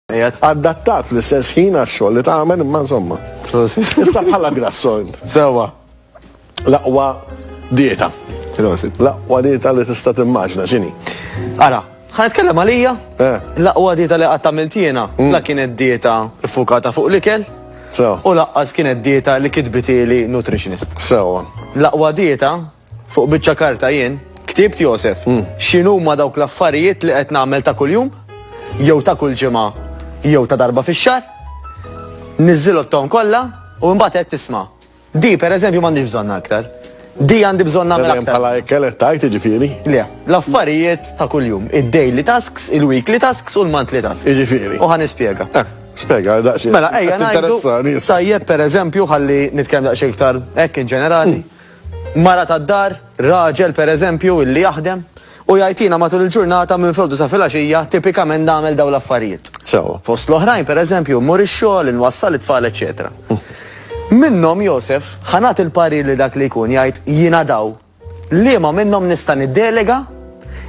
Adattat fl-istess ħin għax-xogħol li tagħmel imma insomma. Issa bħala grasson. Sewa. L-aqwa dieta. L-aqwa dieta li tista' timmaġna x'inhi. Ara, ħa nitkellem għalija. Eh. L-aqwa dieta li qatt għamilt jiena, mm. la kienet dieta ffukata fuq l-ikel. U laqqas kienet dieta li kitbitili nutritionist. Sewa. L-aqwa dieta Fuq biċċa karta jien ktibt Josef x'inhuma dawk l-affarijiet li qed nagħmel ta' kuljum jew ta' kull ġimgħa jew ta' darba fix-xahar, niżżilotthom kollha u mbagħad qed tisma'. Di pereżempju m'għandix bżonnha aktar. Di għandi bżonn nagħmel aktar. Bħala ekkel qed tajt jiġifieri? Le, l-affarijiet ta' kuljum, id-daily tasks, il-weekly tasks u l-monthly tasks. Jiġifieri. U ħa nispjega. Eh. Spega, daqxie. Mela, ejja, najdu. Tajjeb, per eżempju, ħalli nitkellem daqxie iktar, ekk in ġenerali. Hmm. Mara tad-dar, raġel pereżempju illi jaħdem u jgħid jiena matul il-ġurnata minn filgħodu sa filgħaxija tipikament nagħmel dawn l-affarijiet. Sewwa. Fost l-oħrajn pereżempju mmur ix-xogħol, inwassal it-tfal eċċetera. Minnhom Josef ħa nagħti l-parir li dak li jkun jgħid jiena daw liema minnhom nista' niddelega,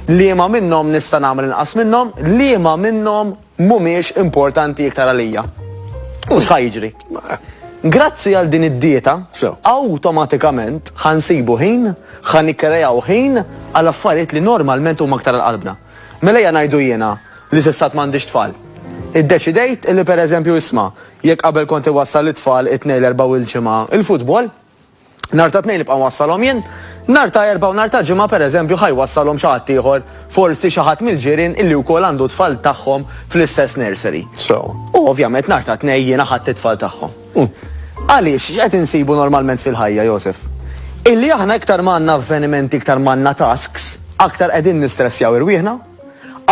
liema minnhom nista' nagħmel inqas minnhom, liema minnhom mhumiex importanti iktar għalija. U x'ħa jiġri? Grazzi għal din id-dieta, awtomatikament ħa nsibu ħin, ħa nikkreaw ħin għal affarijiet li normalment huma aktar għal qalbna. Mela ejja ngħidu jiena li s'issa għad m'għandix tfal. Iddeċidejt li pereżempju isma', jekk qabel kont iwassal lit-tfal it-Tnejn, l-Erbgħa u l-Ġimgħa il-futbol, Nhar ta' Tnejn nibqa' nwassalhom jien, nhar ta' Erbgħa u nhar ta' Ġimgħa pereżempju ħa jwassalhom xi ħadd ieħor, forsi xi ħadd mill-ġirien illi wkoll għandu t-tfal tagħhom fl-istess nursery. Sew. U ovvjament nhar ta' Tnejn jiena ħadt it-tfal tagħhom. Għaliex, x'qed insibu normalment fil-ħajja, Josef? Illi aħna iktar ma għandna avvenimenti, iktar ma għandna tasks, aktar qegħdin nistressjaw irwieħna.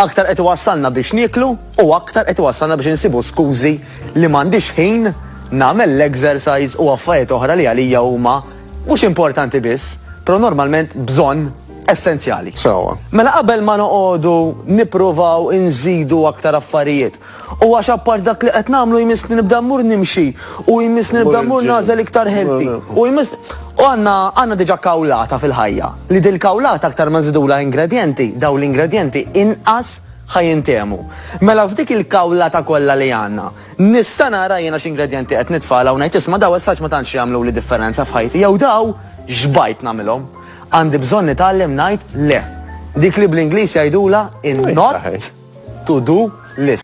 Aktar qed iwassalna biex nieklu u aktar qed iwassalna biex insibu skużi li m'għandix ħin nagħmel l-exercise u affajiet oħra li għalija huma mhux importanti biss, pero normalment bżonn essenzjali. Sewwa. Mela qabel ma noqogħdu nippruvaw inżidu aktar affarijiet, U għax apart dak li qed nagħmlu jmiss li nibda mmur nimxi u jmiss li nibda mmur nagħżel iktar healthy. U jmiss u għandna għandna diġà kawlata fil-ħajja li dil-kawlata aktar ma nżidulha ingredjenti, dawn l-ingredjenti inqas ħa jintehmu. Mela f'dik il-kawlata kollha li għandna, nista' nara jiena x'ingredjenti qed nitfagħla u ngħid isma' daw as-saġ ma tantx jagħmluli differenza f'ħajti jew daw x'bajt nagħmilhom. Għandi bżonn nitgħallem ngħid le. Dik li bl-Ingliż jgħidulha in-not to do list.